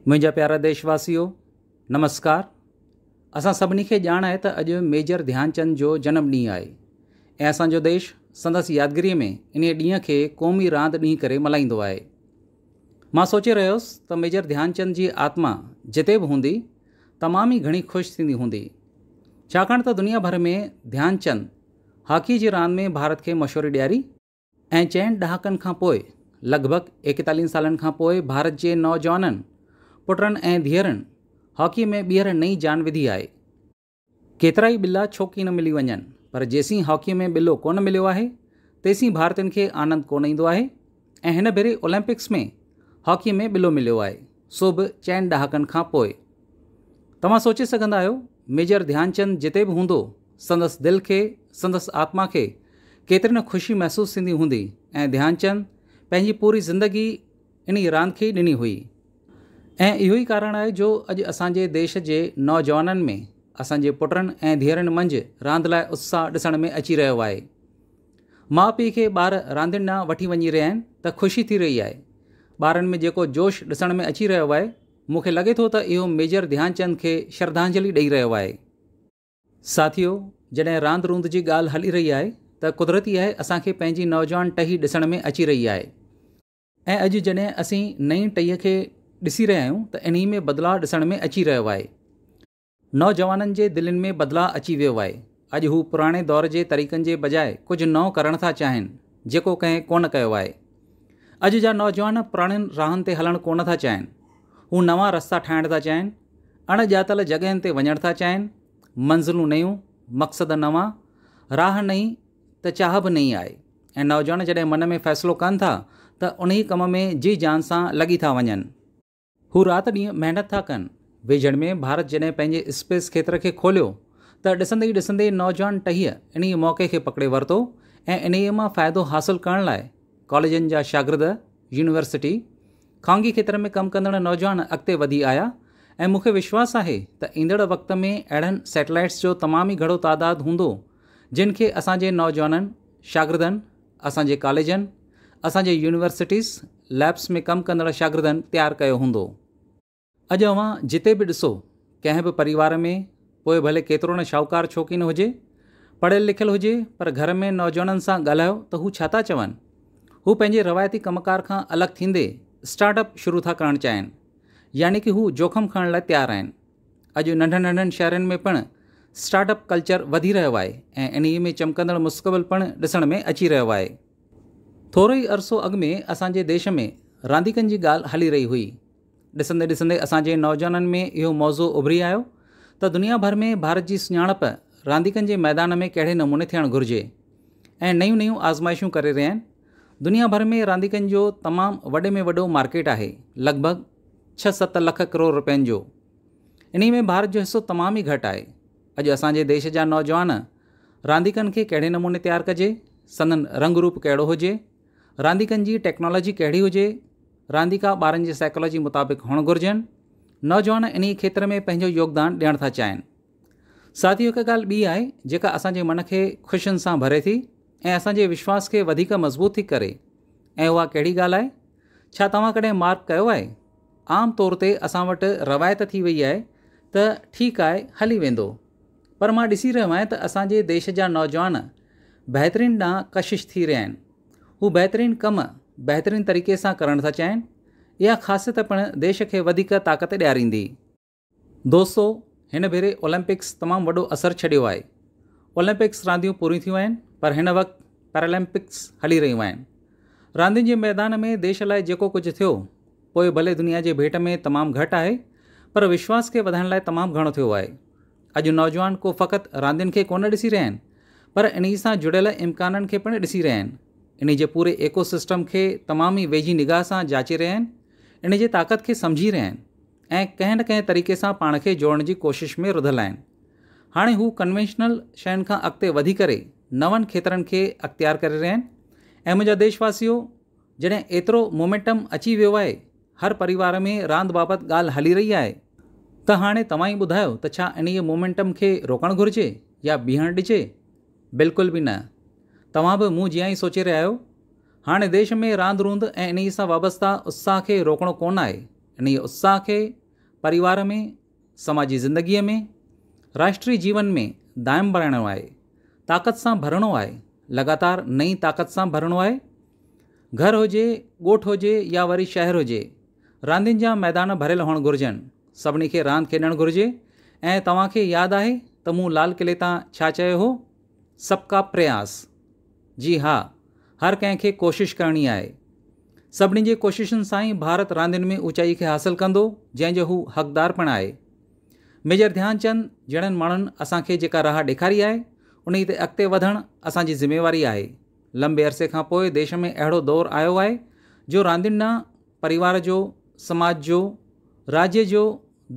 منهنجا پيارا ديش واسيو نمسڪار اسان سڀني کي ڄاڻ آهي ته اڄ ميجر ڌيان چند جو جنم ڏينهن آهي ۽ اسان جو ديش سندس يادگيري ۾ انهي ڏينهن کي قومي راند ڏينهن ڪري ملهائيندو آهي مان سوچي رهيو هوس ته ميجر ڌيان چند جي آتما جتي به هوندي تمام ئي گهڻي خوش ٿيندي هوندي ڇاڪاڻ ته دنيا ڀر ۾ ڌيان چند هاڪي جي راند ۾ ڀارت کي مشهوري ڏياري ۽ چئن ڏهاڪن کان پوء لڳ ڀڳ ايڪيتاليهن سالن کان پوء ڀارت جي نوجوانن پٽن ۽ ڌيئرن هاڪي ۾ ٻيهر نئين جان وڌي آهي. ڪيترائي ٻلا ڇو ڪي نه ملي وڃن پر جيسين هاڪي ۾ ٻلو ڪونه مليو آهي تيسين ڀارتين کي آنند ڪونه ايندو آهي ۽ هن ڀيري اولمپڪس ۾ هاڪي ۾ ٻلو مليو آهي. سو به چئن ڏهاڪن کان پوء. توهان سوچي سگهندا آهيو، ميجر ڌيانچند جتي به هوندو، سندس دل کي، سندس آتما کي ڪيتري نه خوشي محسوس ٿيندي هوندي ۽ ڌيانچند پنهنجي پوري زندگي انهي راند کي ئي ڏني هئي. ۽ اهو ئي ڪارڻ آهي جو اڄ اسان جي ديش جي نوجوانن ۾ اسان جي پٽن ۽ ڌيئرن منجهه راند لاء اتساهه ڏسڻ ۾ اچي رهيو آهي. ماء پيء کي ٻار راندين ڏانهن وٺي وڃي رهيا آهن ته خوشي ٿي رهي آهي. ٻارن ۾ جيڪو جوش ڏسڻ ۾ اچي رهيو آهي، مون کي لڳي ٿو ته اهو ميجر ڌيان چند کي شرڌانجلي ڏئي رهيو آهي. ساٿيو، جڏهن راند روند جي ڳالهه هلي رهي آهي ته قدرتي آهي اسان کي پنهنجي نوجوان ٽهي ڏسڻ ۾ اچي رهي آهي ۽ اڄ جڏهن اسين نئين ٽهي کي ڏسي رهيا آهيون ته انهي ۾ بدلاء ڏسڻ ۾ اچي رهيو آهي. نوجوانن جي دلين ۾ بدلاء اچي ويو آهي، اڄ هو پراڻي دور جي طريقن جي بجاء ڪجهه نئون ڪرڻ ٿا چاهين، جيڪو ڪنهن ڪونه ڪيو آهي. اڄ جا نوجوان پراڻين راهن تي هلڻ ڪونه ٿا چاهين، هو نوان رستا ٺاهڻ ٿا چاهين، اڻ ڄاتل جڳهين تي وڃڻ ٿا چاهين، منزلون نيون، مقصد نوان، راهه نئين ته چاهه به نئين آهي ۽ نوجوان جڏهن من ۾ فيصلو ڪن ٿا ته انهي ڪم ۾ جي جان سان لڳي ٿا وڃن. هو رات ڏينهن محنت ٿا ڪن. ويجهڙ ۾ ڀارت جڏهن پنهنجي اسپيس کيتر کي کوليو ته ڏسندي ئي ڏسندي نوجوان ٽهيء انهيء موقعي کي پڪڙي ورتو ۽ انهيء مان فائدو حاصل ڪرڻ لاء ڪاليجن جا شاگرد، يونيورسٽي، خانگي کيتر ۾ ڪم ڪندڙ نوجوان اڳتي وڌي آيا ۽ مون کي وشواس آهي ته ايندڙ وقت ۾ اهڙن سيٽلائيٽس جو تمام ئي گهڻو تعداد هوندو جن کي اسان جي نوجوانن، شاگردن، اسان جي ڪاليجن، اسان جي يونيورسٽيز، ليبس ۾ ڪم ڪندڙ شاگردن تيار ڪيو هوندو. اڄ اوهان جتي به ڏسو، ڪنهن به پريوار ۾ پوء ڀلي ڪيترو نه شاهوڪار ڇو ڪين هجي، پڙهيل لکيل هجي پر گهر ۾ نوجوانن سان ڳالهايو ته هو ڇا ٿا چون؟ هو پنهنجي روايتي ڪم ڪار کان الڳ ٿيندي اسٽارٽ اپ شروع ٿا ڪرڻ چاهين. يعني ڪه هو جوکم کڻڻ لاء تيار آهن. اڄ ننڍن ننڍن شهرن ۾ پڻ اسٽارٽ اپ ڪلچر وڌي رهيو آهي ۽ انهيء ۾ چمڪندڙ مستقبل پڻ ڏسڻ ۾ اچي رهيو آهي. ٿورو ئي عرصو اڳ ۾ اسان جي ديش ۾ رانديڪن جي ڳالهه هلي رهي هئي. ڏسندي ڏسندي اسان جي نوجوانن ۾ اهو موضوع اڀري آيو ته دنيا ڀر ۾ ڀارت جي سڃاڻپ رانديڪن جي ميدان ۾ ڪهڙي نموني ٿيڻ گهرجي ۽ نيون نيون آزمائشون ڪري رهيا آهن. دنيا ڀر ۾ رانديڪن جو تمام وڏي ۾ وڏو مارڪيٽ آهي، لڳ ڀڳ ڇهه ست لک ڪروڙ رپين جو. انهي ۾ ڀارت جو حصو تمام ئي گهٽ آهي. اڄ اسان جي ديش جا نوجوان رانديڪن کي ڪهڙي نموني تيار ڪجي، سندن رنگ روپ ڪهڙو هجي، رانديڪن جي ٽيڪنالاجي ڪهڙي هجي، رانديڪا ٻارن جي سائيڪالاجي مطابق هئڻ گهرجن، نوجوان انهي کيتر ۾ پنهنجو يوگدان ڏيڻ ٿا چاهين. ساٿيو هڪ ڳالهه ٻي آهي جيڪا اسان جي من کي خوشين سان ڀري ٿي ۽ اسان جي وشواس کي وڌيڪ مضبوط ٿي ڪري ۽ اها ڪهڙي ڳالهه آهي ڇا توهان ڪڏهن مارڪ ڪيو آهي عام طور تي اسان وٽ روايت ٿي وئي آهي ته ٺيڪ آهي هلي ويندو پر مان ڏسي رهيو آهيان ته اسان جي ديش جا نوجوان بهترين ڏانهن ڪشش ٿي رهيا آهن هو بهترين ڪم بهترين طريقي سان ڪرڻ ٿا چاهين اها خاصيت پڻ ديش کي وڌيڪ طاقت ڏياريندي دوستو هن ڀيري اولمپڪس تمام وڏو اثر ڇڏيو آهي. اولمپڪس رانديون پوريون ٿيون آهن پر هن وقت پيرالمپڪس هلي رهيون آهن. راندين جي ميدان ۾ ديش لاء جيڪو ڪجهه ٿيو پوء ڀلي دنيا جي ڀيٽ ۾ تمام گهٽ آهي پر وشواس کي وڌائڻ لاء تمام گهڻو ٿيو آهي. اڄ نوجوان ڪو فقط راندين کي ڪونه ڏسي رهيا آهن پر انهي سان جڙيل امڪانن کي پڻ ڏسي رهيا آهن. انهي جي پوري ايڪو سسٽم کي تمام ئي ويجهي نگاهه سان جاچي رهيا آهن. انهي جي طاقت کي سمجهي رهيا آهن. ۽ ڪنهن نه ڪنهن طريقي سان پاڻ کي جوڙڻ جي ڪوشش ۾ رڌل آهن. هاڻي هو ڪنوينشنل شين کان اڳتي وڌي ڪري نون کيترن کي اختيار ڪري رهيا آهن ۽ منهنجا ديش واسيو جڏهن ايترو مومينٽم اچي ويو آهي هر پريوار ۾ راند بابت ڳالهه هلي رهي آهي ته هاڻي توهان ئي ٻڌايو ته ڇا انهيء مومينٽم کي روڪڻ گهرجي يا بيهڻ ڏجي؟ بلڪل به نه. توهان به مون جيان ئي سوچي رهيا آهيو. هاڻي ديش ۾ راند روند ۽ انهيء سان وابسته اتساهه کي روڪڻو ڪونه آهي. انهيء اتساهه کي پريوار ۾، سماجي زندگيء ۾، راشٽري جيون ۾ دائم بڻائڻو آهي، طاقت سان ڀرڻو آهي، لڳاتار نئين طاقت سان ڀرڻو آهي. گهر هجي، ڳوٺ هجي يا وري شهر هجي، راندين جا ميدان ڀريل هئڻ گهرجن، سڀني کي راند کيڏڻ گهرجي ۽ توهان کي ياد آهي ته مون لال قلعي تان ڇا چيو هو؟ سب ڪا پرياس، جي ها، هر ڪنهن کي ڪوشش ڪرڻي آهي. سڀني جي ڪوششن سان ئي ڀارت راندين ۾ اوچائي کي حاصل ڪندو، جنهن جو هو حقدار پڻ آهي. ميجر ڌيان چند جهڙن ماڻهن اسان کي جيڪا راهه ڏيکاري آهي، انهي تي اڳتي وڌڻ اسان جي ذميواري آهي. لنبي عرصي کان پوء ديش ۾ اهڙو دور آيو آهي، جو راندين ڏانهن پريوار جو، سماج جو، راڄ جو،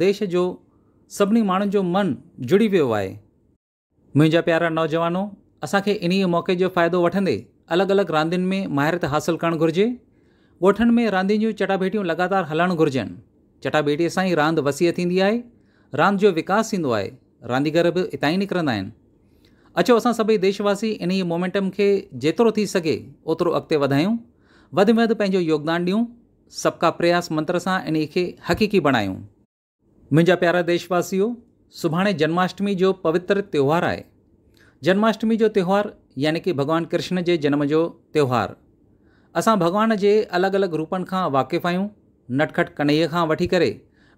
ديش جو، سڀني ماڻهن جو من جڙي ويو آهي. منهنجا پيارا نوجوانو اسان کي انهيء موقعي جو فائدو وٺندي الڳ الڳ راندين ۾ ماهريت حاصل ڪرڻ گهرجي. ڳوٺن ۾ راندين جون چٽاڀيٽيون لڳاتار هلڻ گهرجن. چٽاڀيٽي سان ئي راند وسيع ٿيندي آهي. راند جو وڪاس ٿيندو آهي. رانديگر به اتان ئي نڪرندا آهن. اچو اسان سڀئي ديش واسي انهيء مومينٽم کي جيترو ٿي سگهي اوترو اڳتي وڌايون. وڌ ۾ وڌ پنهنجو يوگدان ڏيون. سبڪا پرياس منتر سان انهيء کي حقيقي بڻايون. منهنجا پيارا ديش واسيو سڀاڻي جنماشٽمي جو پوتر تهوار آهي جنماشٽمي جو تهوار يعني ڪي ڀڳوان ڪرشن جي جنم جو تهوار اسان ڀڳوان جي الڳ الڳ روپن کان واقف آهيون نٽکٽ ڪنئي کان وٺي ڪري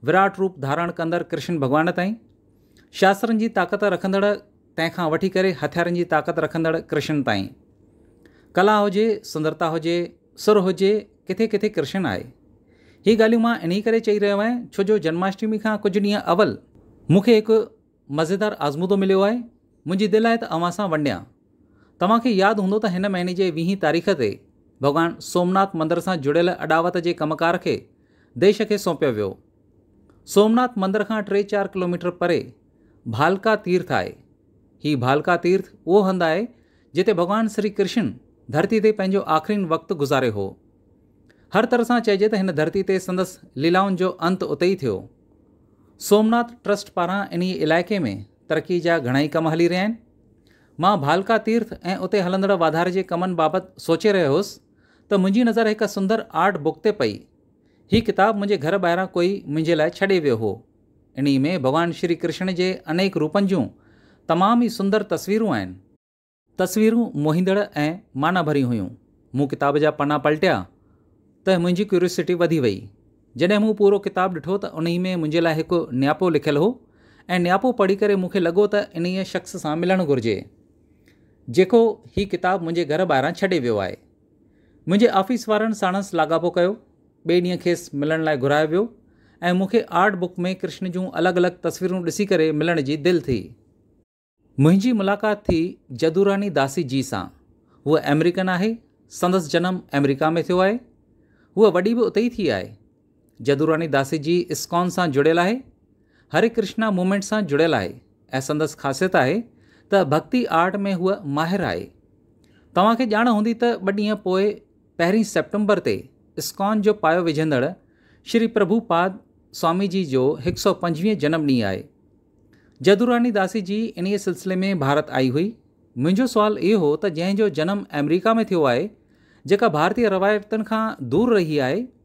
وراٽ روپ ڌارڻ ڪندڙ ڪرشن ڀڳوان تائين شاسترن جي طاقت رکندڙ تنهن کان وٺي ڪري هٿيارن جي طاقت رکندڙ ڪرشن تائين. ڪلا هجي، سندرتا هجي، سر هجي، ڪٿي ڪٿي ڪرشن آهي. هي ڳالهيون مان انهي ڪري چئي رهيو آهيان ڇو جو جنماشٽمي کان ڪجهه ڏينهن اول مون کي هڪ مزيدار آزمودو مليو آهي. منهنجي دل آهي ته اوهان سان ونڊيان. توهان کي ياد هوندو ته هن مهيني جي ويهين تاريخ تي ڀڳوان سومناٿ مندر سان جڙيل اڏاوت جي ڪم ڪار کي ديش کي سونپيو ويو. سومناٿ مندر کان ٽي چار ڪلوميٽر پري ڀالڪا تيرٿ آهي. هي ڀالڪا تيرٿ اهو هنڌ آهي جتي ڀڳوان شري ڪرشن ڌرتي تي پنهنجو آخرين وقت گذاريو هو. هر طرح سان چئجي ته هن ڌرتي تي سندس ليلائن جو انت اتي ئي ٿيو. سومناٿ ٽرسٽ پاران انهي علائقي ۾ ترقي جا گهڻائي ڪم هلي رهيا آهن. مان ڀالڪا تيرٿ ۽ اتي هلندڙ واڌاري جي ڪمن بابت سوچي رهيو هوس ته منهنجي نظر هڪ سندر آرٽ بڪ تي پئي. هي ڪتاب منهنجي گهر ٻاهران ڪوئي منهنجي لاء ڇڏي ويو هو. انهيء ۾ ڀڳوان شري ڪرشڻ جي انيڪ روپن جون تمام ئي سندر تصويرون آهن. تصويرون موهيندڙ ۽ معنيٰ ڀريون هيون. مون ڪتاب جا پنا پلٽيا ته منهنجي ڪيوريوسٽي وڌي وئي. جڏهن مون پورو ڪتاب ڏٺو ته انهيء ۾ منهنجي لاء هڪ نياپو لکيل هو ۽ نياپو پڙهي ڪري مون کي لڳو ته انهيء شخص سان ملڻ گهرجي، جيڪو هي ڪتاب منهنجي گهر ٻاهران ڇڏي ويو آهي. منهنجي آفيس وارن ساڻس لاڳاپو ڪيو. ٻئي ڏينهن کيس ملڻ لاء گهرايو ويو ۽ مون کي آرٽ بڪ ۾ ڪرشن جون الڳ الڳ تصويرون ڏسي ڪري ملڻ جي دل ٿي. منهنجي ملاقات ٿي جدوراني داسي جي سان. هوء آمريڪن آهي. سندس جنم آمريڪا ۾ ٿيو آهي. هوء وڏي به اتي ئي ٿي آهي. جدوراڻي داسي جي اسڪان سان جڙيل آهي، هري ڪرشنا موومينٽ سان جڙيل آهي ۽ سندس خاصيت آهي ته ڀڳتي آرٽ ۾ هوء ماهر آهي. توهان کي ڄاڻ هوندي ته ٻه ڏينهن پوء پهرين سيپٽمبر تي اسڪان جو پايو وجهندڙ شري پرڀو پاد سوامي جي جو هڪ سؤ پنجويهين جنم ڏينهن آهي. جدوراڻي داسي جي انهيء سلسلي ۾ ڀارت آئي هئي. منهنجو سوال اهو هو ته جنهن جو جنم آمريڪا ۾ ٿيو آهي، جيڪا ڀارتي روايتن کان دور رهي آهي،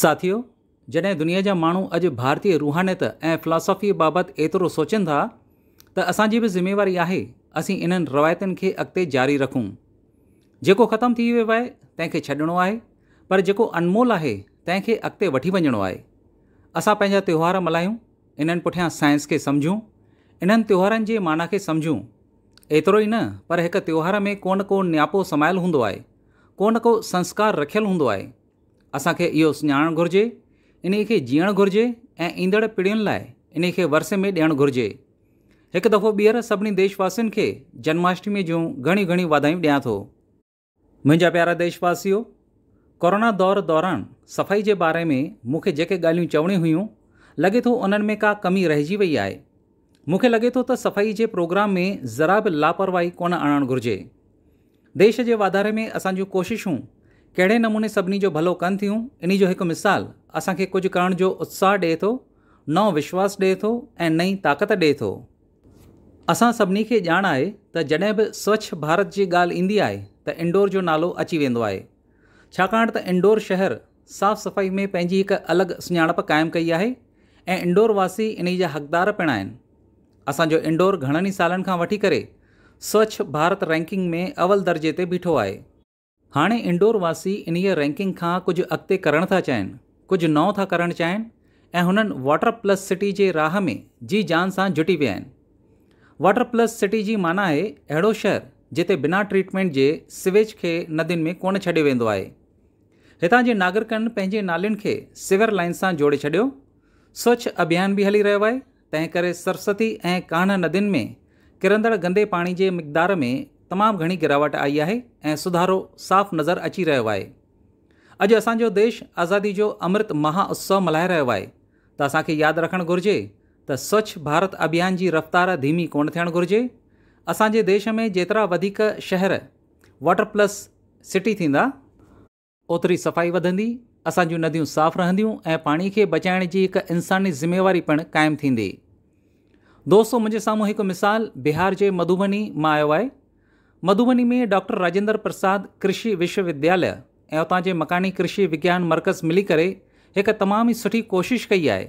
ساٿيو! جڏهن دنيا جا ماڻهو اڄ ڀارتي روحانيت ۽ فلاسافيء بابت ايترو سوچين ٿا ته اسان جي به ذميواري آهي اسين انهن روايتن کي اڳتي جاري رکون. جيڪو ختم ٿي ويو آهي تنهن کي ڇڏڻو آهي پر جيڪو انمول آهي تنهن کي اڳتي وٺي وڃڻو آهي. اسان پنهنجا تهوار ملهايون، انهن پٺيان سائنس کي سمجهون، انهن تهوارن جي معنيٰ کي سمجهون. ايترو ئي نه پر هڪ تهوار ۾ ڪو نه ڪو نياپو سمايل هوندو آهي، ڪو نه ڪو سنسڪار رکيل هوندو آهي. اسان کي اهو سڃاڻڻ گهرجي، انهي کي جيئڻ گهرجي ۽ ايندڙ پيڙهين لاء انهي کي ورثي ۾ ڏيڻ گهرجي. هڪ دفعو ٻيهر سڀني ديش واسين کي جنماشٽمي جون گهڻيون گهڻيون واڌايون ڏيان ٿو. منهنجا پيارا ديش واسيو، ڪورونا دور دوران صفائي جي باري ۾ مون کي جيڪي ڳالهيون چوڻيون هيون، لڳي ٿو انهن ۾ ڪا ڪمي رهجي وئي آهي. مون کي لڳي ٿو ته صفائي جي پروگرام ۾ ذرا به لاپرواهي ڪونه آڻڻ گهرجي. ديش جي واڌاري ۾ اسان جون ڪوششون ڪهڙي نموني سڀني جو ڀلو ڪن ٿيون انهي جو هڪ مثال اسان کي ڪجهه ڪرڻ جو اتساهه ڏئي ٿو، نئون وشواس ڏئي ٿو ۽ نئين طاقت ڏئي ٿو. اسان سڀني کي ڄاڻ آهي ته جڏهن به سوڇ ڀارت جي ڳالهه ايندي آهي ته انڊور جو نالو اچي ويندو آهي ڇاڪاڻ ته انڊور شهر، صاف صفائي ۾ پنهنجي هڪ الڳ سڃاڻپ قائم ڪئي آهي ۽ انڊور واسي انهي جا حقدار پڻ آهن. اسان جو انڊور گهڻن ئي سالن کان وٺي ڪري سوڇ ڀارت رينڪنگ ۾ اول درجي تي بيٺو آهي. هاڻي انڊور واسي انهي رينڪنگ کان ڪجهه اڳتي ڪرڻ ٿا چاهين، ڪجهه نئون ٿا ڪرڻ چاهين ۽ هنن واٽر پلس سٽي جي راهه ۾ جي جان سان جٽي ويا آهن. واٽر پلس سٽي جي معنيٰ آهي اهڙو شهر جتي بنا ٽريٽمينٽ جي سويج کي ندين ۾ ڪونه ڇڏيو ويندو آهي. هتان جي ناگرڪن پنهنجي نالين کي سيور لائين سان جوڙي ڇڏيو. سوڇ اڀيان به هلي رهيو آهي، تنهن ڪري سرسوتي ۽ ڪانه ندين ۾ ڪرندڙ گندي پاڻي جي مقدار ۾ تمام گهڻي گراوٽ آئي آهي ۽ سڌارو صاف نظر اچي رهيو آهي. اڄ اسان جو ديش آزادي جو امرت مها اتسو ملهائي رهيو آهي ته اسان کي ياد رکڻ گهرجي ته سوڇ ڀارت اڀيان جي رفتار ڌيمي ڪونه ٿيڻ گهرجي. اسان جي ديش ۾ جيترا وڌيڪ شهر، واٽر پلس سٽي ٿيندا، اوتري صفائي وڌندي، اسان جون نديون صاف رهنديون ۽ پاڻي کي بچائڻ جي هڪ انساني ذميواري پڻ قائم ٿيندي. دوستو منهنجي سامهون هڪ مثال بهار جي مڌوبني مان آيو آهي. مڌوبني ۾ ڊاڪٽر راجندر پرساد ڪرشي وشو ودياليه ۽ اتان جي مڪاني ڪرشي وگيان مرڪز ملي ڪري هڪ تمام ئي سٺي ڪوشش ڪئي آهي.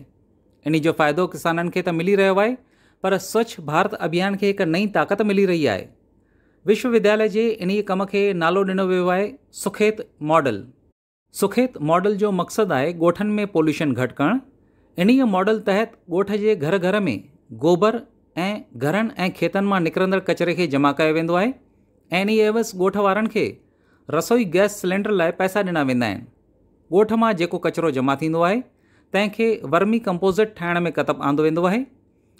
انهي جو فائدو ڪسانن کي ته ملي رهيو آهي پر سوڇ ڀارت اڀيان کي هڪ نئين طاقت ملي رهي آهي. وشو ودياليه جي انهيء ڪم کي نالو ڏنو ويو آهي سکيت ماڊل. سکيت ماڊل جو مقصد آهي ڳوٺن ۾ پوليوشن گهٽ ڪرڻ. انهيء ماڊل تحت ڳوٺ جي گهر گهر ۾ گوبر ۽ گهرن ۽ کيتن مان نڪرندڙ ڪچري کي جمع ڪيو ويندو آهي ۽ انهيء عيوض ڳوٺ وارن کي رسوئي گئس سلينڊر لاء پئسا ڏنا ويندا آهن. ڳوٺ مان جيڪو ڪچرو جمع ٿيندو آهي تنهن کي ورمي ڪمپوزٽ ٺاهڻ ۾ ڪتب آندو ويندو آهي.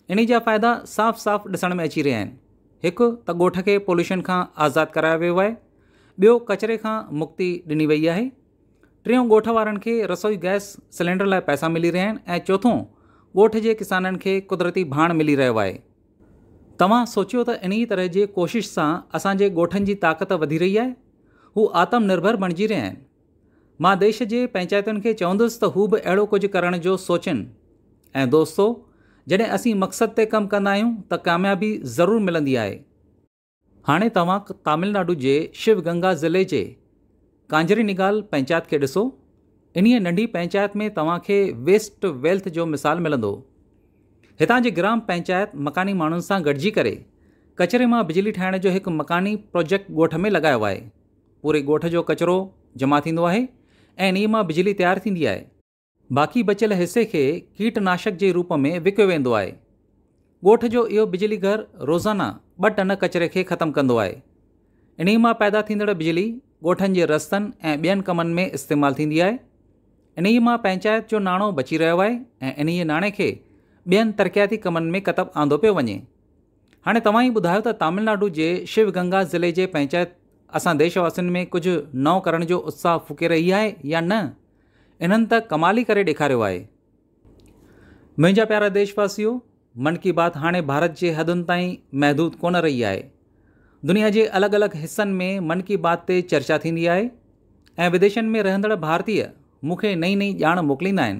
انهي جا فائدا صاف صاف ڏسڻ ۾ اچي رهيا آهن. هڪ ته ڳوٺ کي پوليوشن کان آزاد ڪرايو ويو آهي، ٻيو ڪچري کان مڪتي ڏني وئي آهي، ٽيون ڳوٺ وارن کي رسوئي گئس سلينڊر لاء پئسا ملي رهيا آهن ۽ چوٿون ڳوٺ جي ڪسانن کي قدرتي ڀاڻ ملي رهيو آهي. توهان سوچيو ته انهي طرح جي ڪوشش سان اسان جي ڳوٺن جي طاقت وڌي رهي آهي، هو آتم نرڀر بڻجي رهيا آهن. مان ديش جي پئنچائتن کي چوندس ته هو به اهڙو ڪجهه ڪرڻ جو سوچين ۽ دوستو جڏهن اسين مقصد تي ڪم ڪندا آهيون ته ڪاميابي ضرور ملندي آهي. هاڻي توهان تامل ناڊو جي شو گنگا ضلعي جي ڪانجري نگال پئنچائت کي ڏسو. انهيء ننڍي پئنچائت ۾ توهان کي ويسٽ ويلٿ جو مثال ملندو. هتان جي گرام پئنچائت مڪاني ماڻهن سان گڏجي ڪري ڪچري مان بجلي ٺاهڻ جو هڪ مڪاني پروجيڪٽ ڳوٺ ۾ لڳايو آهي. پوري ڳوٺ جو ڪچرو جمع ٿيندو آهي ۽ انهيء مان بجلي تيار ٿيندي آهي. باقي بچيل حصي کي ڪيٽ ناشڪ جي روپ ۾ وڪيو ويندو آهي. ڳوٺ جو اهو بجلي گهر روزانه ٻه ٽن ڪچري کي ختم ڪندو آهي. انهيء مان پيدا ٿيندڙ بجلي ڳوٺن جي رستن ۽ ٻين ڪمن ۾ استعمال ٿيندي آهي. انهيء مان پنچائت جو ناڻو بچي رهيو آهي ۽ انهيء ناڻي کي ٻين ترقياتي ڪمن ۾ ڪتب آندو پيو وڃي. هاڻي توهان ئي ٻڌايو ته تامل ناڊو جي شو گنگا ضلعي جي پنچائت اسان ديش واسين ۾ ڪجهه نئون ڪرڻ جو اتساهه ڦوڪي رهي آهي يا نه؟ انهن ته ڪمال ئي ڪري ڏيکاريو آهي. منهنجا پيارا ديش واسيو من ڪي بات هاڻي ڀارت جي حدن تائين محدود ڪونه رهي آهي. دنيا جي الڳ الڳ حصن ۾ من ڪي بات تي چرچا ٿيندي آهي ۽ وديشن ۾ رهندڙ ڀارتي مون کي نئين نئين ڄاڻ موڪليندا آهن.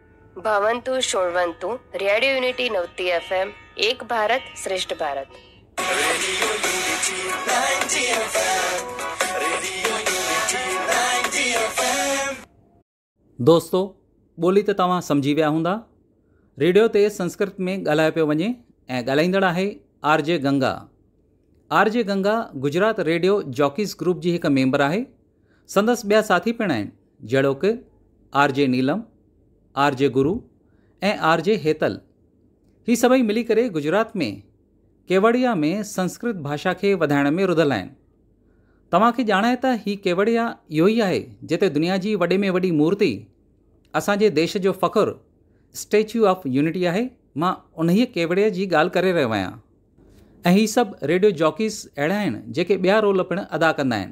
ڀونتو شرونتو، radio Unity ninety F M, Ek Bharat سريشٽ Bharat. Radio unity ninety F M, radio unity ninety F M. دوستو ٻولي ته توهان سمجهي ويا هوندا. ريڊيو تي سنسڪرت ۾ ڳالهايو پيو وڃي ۽ ڳالهائيندڙ آهي R J Ganga. R J Ganga Gujarat radio jockeys group جي هڪ ميمبر آهي سندس ٻيا ساٿي پڻ آهن جهڙوڪ R J Neelam, R J Guru ۽ R J Hetal. هي سڀئي ملي ڪري گجرات ۾ ڪيوڙيا ۾ سنسڪرت ڀاشا کي وڌائڻ ۾ رڌل آهن. توهان کي ڄاڻ آهي ته هي ڪيوڙيا اهو ئي آهي جتي دنيا جي وڏي ۾ وڏي مورتي، اسان جي ديش جو فخر اسٽيچو آف يونٽي آهي. مان انهيء ڪيوڙيا جي ڳالهه ڪري رهيو آهيان. ۽ هي سڀ ريڊيو جاڪيز اهڙا آهن جيڪي ٻيا رول پڻ ادا ڪندا آهن.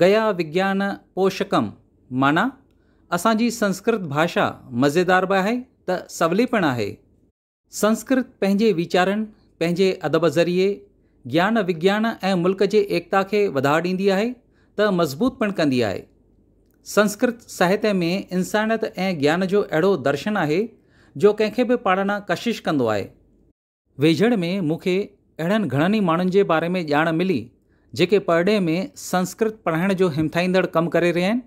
گيا وگيان پوشڪم معنيٰ اسان جي سنسڪرت ڀاشا مزيدار به آهي ته سولي پڻ آهي. سنسڪرت پنهنجي ويچارن، پنهنجي ادب ذريعي گيان وگيان ۽ ملڪ جي ايڪتا کي وڌاء ڏيندي آهي ته مضبوط پڻ ڪندي آهي. سنسڪرت ساهتيه ۾ انسانيت ۽ گيان جو اهڙو درشن آهي جو ڪنهن کي به پاڙڻ ڪشش ڪندو آهي. ويجهڙ ۾ مون کي اهڙن گهڻن ئي ماڻهن جي باري ۾ ڄاڻ ملي جيڪي پرڏيهه ۾ سنسڪرت پڙهائڻ جو همٿائيندڙ ڪم ڪري رهيا آهن.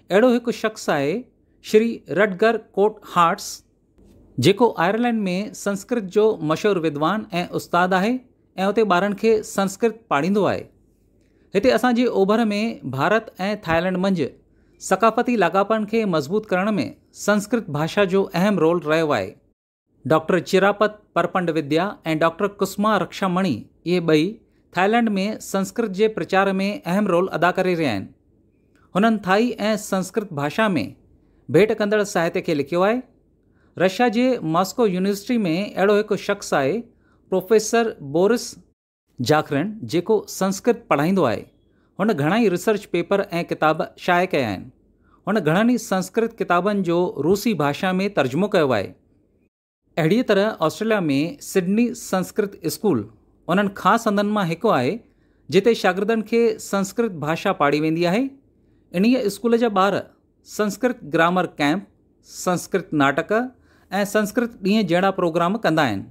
اهڙو هڪ شخص آهي شري رٽگر ڪوٽ هارٽس جيڪو آئرلينڊ ۾ سنسڪرت جو مشهور ودوان ۽ استاد آهي ۽ اتي ٻارن کي سنسڪرت پاڙهيندو آهي. هتي اسان جي اوڀر ۾ ڀارت ۽ ٿائلينڊ منجهه ثقافتي لاڳاپن کي مضبوط ڪرڻ ۾ سنسڪرت ڀاشا جو اهم رول رهيو آهي. ڊاڪٽر چراپت پرپنڊ وديا ۽ ڊاڪٽر ڪسما رڪشا مڻي اهي ٻئي ٿائلنڊ ۾ سنسڪرت جي پرچار ۾ اهم رول ادا ڪري رهيا آهن. هنن ٿائي ۽ سنسڪرت ڀاشا ۾ ڀيٽ ڪندڙ ساهتي کي لکيو آهي. رشيا جي ماسڪو يونيورسٽي ۾ اهڙو هڪ شخص آهي پروفيسر بورس جاکرڻ جيڪو سنسڪرت پڙهائيندو آهي، هن گهڻا ئي ريسرچ پيپر ۽ ڪتاب شايع ڪيا آهن. هن گهڻن ئي سنسڪرت ڪتابن جو روسي ڀاشا ۾ ترجمو ڪيو آهي. اهڙيء طرح آسٽريليا ۾ سڊني سنسڪرت اسڪول انهن خاص هنڌن مان هڪ آهي، جتي شاگردن کي سنسڪرت ڀاشا پاڙهي ويندي آهي. انهيء اسڪول جا ٻار سنسڪرت گرامر ڪئمپ، سنسڪرت ناٽڪ ۽ سنسڪرت ڏينهن جهڙا پروگرام ڪندا آهن.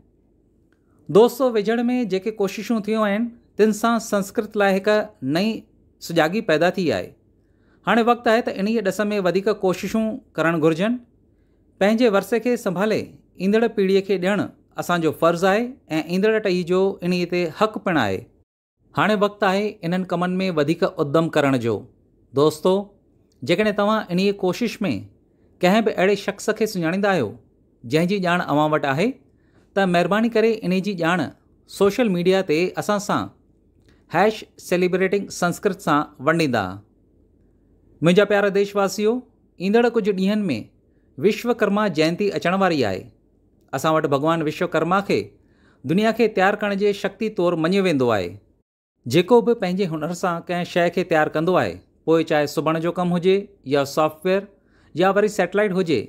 دوستو ويجهڙ ۾ جيڪي ڪوششون ٿيون آهن تن سان سنسڪرت لاء هڪ نئين سجاڳي پيدا ٿي آهي هاڻي وقت آهي ته انهيء ڏس ۾ وڌيڪ ڪوششون ڪرڻ گهرجن پنهنجي ورثي کي سنڀالي ايندڙ پيڙهي کي ڏيڻ اسان جو فرض آهي ۽ ايندڙ ٽهي جو انهيء تي حق پڻ آهي. هاڻي وقت آهي انهن ڪمن ۾ وڌيڪ ادم ڪرڻ جو. دوستو! جيڪڏهن توهان انهيء ڪوشش ۾ ڪنهن به اهڙي شخص کي سڃاڻيندا آهيو، جنهن جي ڄاڻ اوهان وٽ آهي، ته مهرباني ڪري انهيء جي ڄاڻ سوشل ميڊيا تي اسان سان هيش Celebrating Sanskrit سان ونڊيندا. منهنجا پيارا ديش واسيو، ايندڙ ڪجهه ڏينهن ۾ وشوڪرما جينتي اچڻ واري آهي. اسان وٽ ڀڳوان وشوڪرما کي دنيا کي تيار ڪرڻ جي شڪتي طور مڃيو ويندو آهي. جيڪو به پنهنجي هنر سان ڪنهن شيء کي تيار ڪندو آهي، پوء چاهي سبڻ جو ڪم هجي يا سافٽ ويئر يا وري سيٽلائيٽ هجي،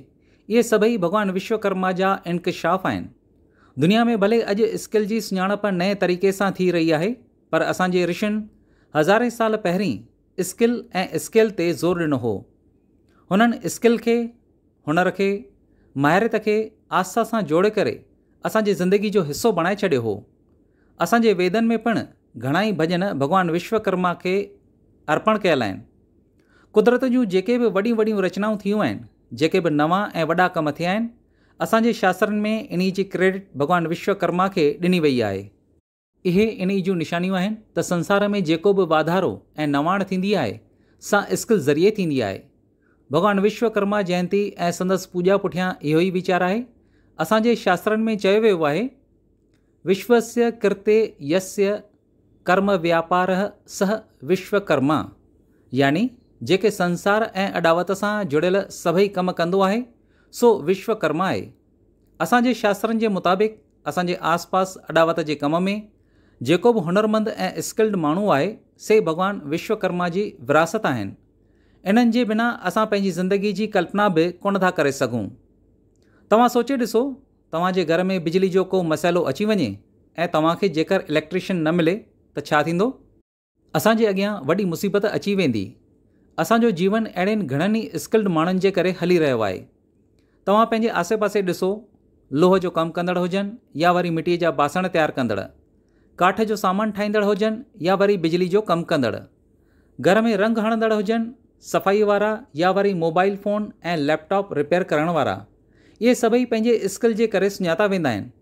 اهي سڀئي ڀڳوان وشوڪرما جا انڪشاف آهن. دنيا ۾ ڀلي اڄ اسڪل جي سڃاڻپ نئين طريقي سان ٿي رهي آهي، پر اسان جي رشين هزارين سال پهرين، اسڪل ۽ اسڪيل تي زور ڏنو هو. هنن اسڪل کي، هنر کي، ماهريت کي آسا سان جوڙي ڪري اسان جي زندگي جو حصو بڻائي ڇڏيو هو. اسان جي ويدن ۾ پڻ گهڻائي ڀڄن ڀڳوان وشوڪرما کي ارپڻ ڪيل آهن. قدرت جون جيڪي به وڏيون وڏيون رچنائون ٿيون آهن، جيڪي به نوان ۽ وڏا ڪم ٿيا آهن، اسان جي شاسترن ۾ انهي جي ڪريڊٽ ڀڳوان وشوڪرما کي ڏني وئي آهي. اهي انهي جون نشانيون آهن ته سنسار ۾ جيڪو به واڌارو ۽ نواڻ ٿيندي آهي سا اسڪل ذريعي ٿيندي آهي. ڀڳوان وشوڪرما جينتي ۽ سندس پوڄا پٺيان اهو ئي ويچار آهي. اسان جي شاسترن ۾ چيو ويو آهي، وشوسيه ڪرتي يسيه ڪرم وياپارهء سهء وشوڪرما يعني جيڪي سنسار ۽ اڏاوت سان جڙيل سڀئي ڪم ڪندو آهي سو وشوڪرما آهي. اسان جي شاسترن جي مطابق اسان جي آس پاس اڏاوت جي ڪم ۾ جيڪو به هنرمند ۽ اسڪلڊ ماڻهو آهي سي ڀڳوان وشوڪرما جي وراثت آهن. انهن جي بنا اسان پنهنجي زندگي جي ڪلپنا به ڪونه ٿا ڪري سگهون. توهان سوچي ڏسو توهان جي گهر ۾ بجلي جو ڪو مسئلو اچي وڃي ۽ توهان کي جيڪر اليڪٽريشن نه ملي ته ڇا ٿيندو؟ اسان جي اڳيان وڏي مصيبت اچي ويندي. اسان جو جيون اهڙين گهڻن ئي اسڪلڊ ماڻهن جي ڪري هلي رهيو آهي. توهان پنهنجي آسي پاسي ڏسو، لوهه جو ڪم ڪندڙ هجن يا وري مٽيء جا باسڻ تيار ڪندڙ، ڪاٺ جو سامان ٺاهيندڙ هجن يا وري بجلي جو ڪم ڪندڙ، گهر ۾ رنگ هڻندڙ هجن، صفائيء وارا يا وري mobile phone ۽ laptop repair ڪرڻ وارا، اهي سڀئي پنهنجي اسڪل جي ڪري سڃاتا ويندا آهن.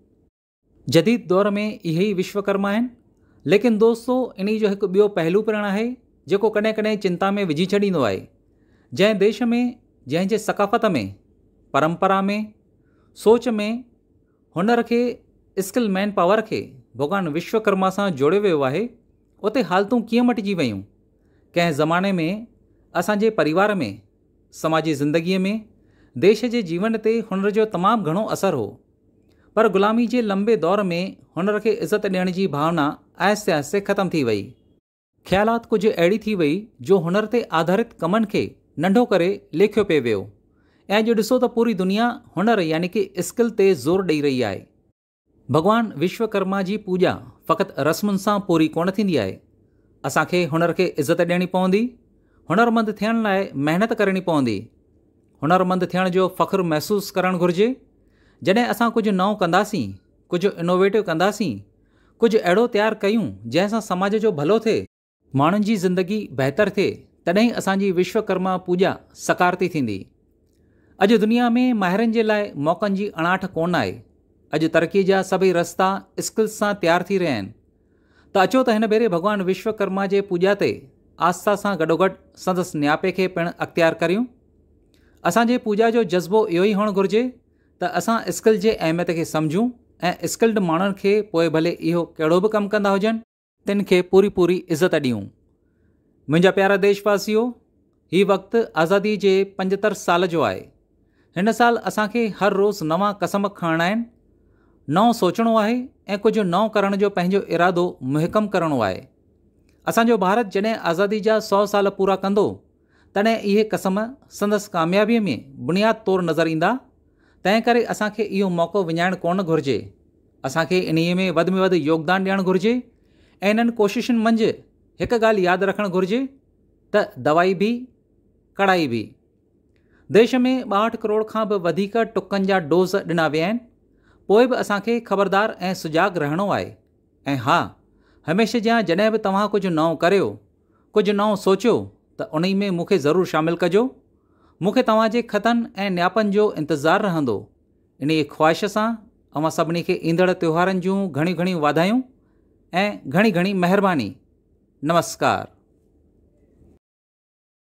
جديد دور ۾ اهي ئي وشوڪرما آهن. ليڪن دوستو انهي جو هڪ ٻيو پهلو پڻ آهي جيڪو ڪڏهن ڪڏهن چنتا ۾ وجهي ڇڏيندو آهي. جنهن ديش ۾ جنهن جي ثقافت ۾ پرمپرا ۾ سوچ ۾ هنر کي اسڪل مين پاور کي ڀڳوان وشوڪرما سان جوڙيو ويو آهي اتي حالتون ڪيئن مٽجي ويون. ڪنهن زماني ۾ اسان جي پريوار ۾ سماجي زندگي ۾ ديش جي جيون تي هنر جو تمام گهڻو اثر هو. پر غلامي جي لنبي دور ۾ هنر کي عزت ڏيڻ جي ڀاونا آهستي آهستي ختم ٿي وئي. خيالات ڪجهه اهڙي ٿي وئي جو هنر تي آڌارت ڪمن کي ننڍو ڪري ليکيو پئي ويو ۽ اڄ ڏسو ته پوري دنيا هنر يعني ڪي اسڪل تي زور ڏئي رهي آهي. ڀڳوان وشوڪرما جي پوڄا فقط رسمن سان پوري ڪونه ٿيندي آهي. اسان کي هنر کي عزت ڏيڻي پوندي. هنرمند ٿيڻ لاء محنت ڪرڻي پوندي. هنرمند ٿيڻ جو فخر محسوس ڪرڻ گهرجي، جڏهن اسان ڪجهه نئون ڪنداسين، ڪجهه انوويٽو ڪنداسين، ڪجهه اهڙو تيار ڪيون جنهن سان سماج جو ڀلو ٿئي، ماڻهن جي زندگي بهتر ٿئي تڏهن ئي اسان جي وشوڪرما پوڄا سڪارتي ٿيندي. اڄ دنيا ۾ ماهرن جي لاء موقعن جي اڻاٺ ڪونه آهي، اڄ ترقي جا سڀئي رستا اسڪلز سان تيار ٿي رهيا آهن، ته اچو ته هن ڀيري ڀڳوان وشوڪرما جي پوڄا تي آسٿا سان گڏوگڏ سندس نياپي کي پڻ اختيار ڪريون. اسان جي پوڄا جو جذبو اهو ئي هئڻ گهرجي ته اسان اسڪل جي اهميت کي سمجهون ۽ اسڪلڊ ماڻهن کي پوء ڀلي اهو ڪهڙو به ڪم ڪندا هجن، تن کي پوري پوري عزت ڏيون. منهنجا پيارا ديش واسيو، هي وقت آزادي جي پنجتر سال جو آهي هن سال اسان کي هر روز نوان قسم کڻڻا آهن نئون سوچڻو آهي ۽ ڪجهه نئون ڪرڻ جو پنهنجو ارادو محڪم ڪرڻو آهي اسان جو ڀارت جڏهن آزادي جا سو سال پورا ڪندو تڏهن اهي قسم سندس ڪاميابي ۾ بنياد طور نظر ايندا تنهن ڪري اسان کي اهو موقعو وڃائڻ ڪونه گهرجي اسان کي انهي ۾ وڌ ۾ وڌ يوگدان ڏيڻ گهرجي ۽ انهن ڪوششن منجهه هڪ ڳالهه ياد رکڻ گهرجي ته دوائي به ڪڙائي به. ديش ۾ ٻاهٺ ڪروڙ کان به وڌيڪ ٽڪن جا ڊوز ڏنا ويا آهن، پوء به اسان کي خبردار ۽ سجاڳ رهڻو آهي ۽ ها هميشه جيان جڏهن به توهان ڪجهه نئون ڪريو، ڪجهه نئون سوچيو ته انهي ۾ مون کي ضرور شامل ڪجو، مون کي توهان جي خطن ۽ نياپن جو انتظار رهندو، انهيء خواهش سان اوهان سڀني کي ايندڙ تهوارن جون گهڻيون گهڻيون واڌايون ۽ گهڻي گهڻي مهرباني. نمسڪار.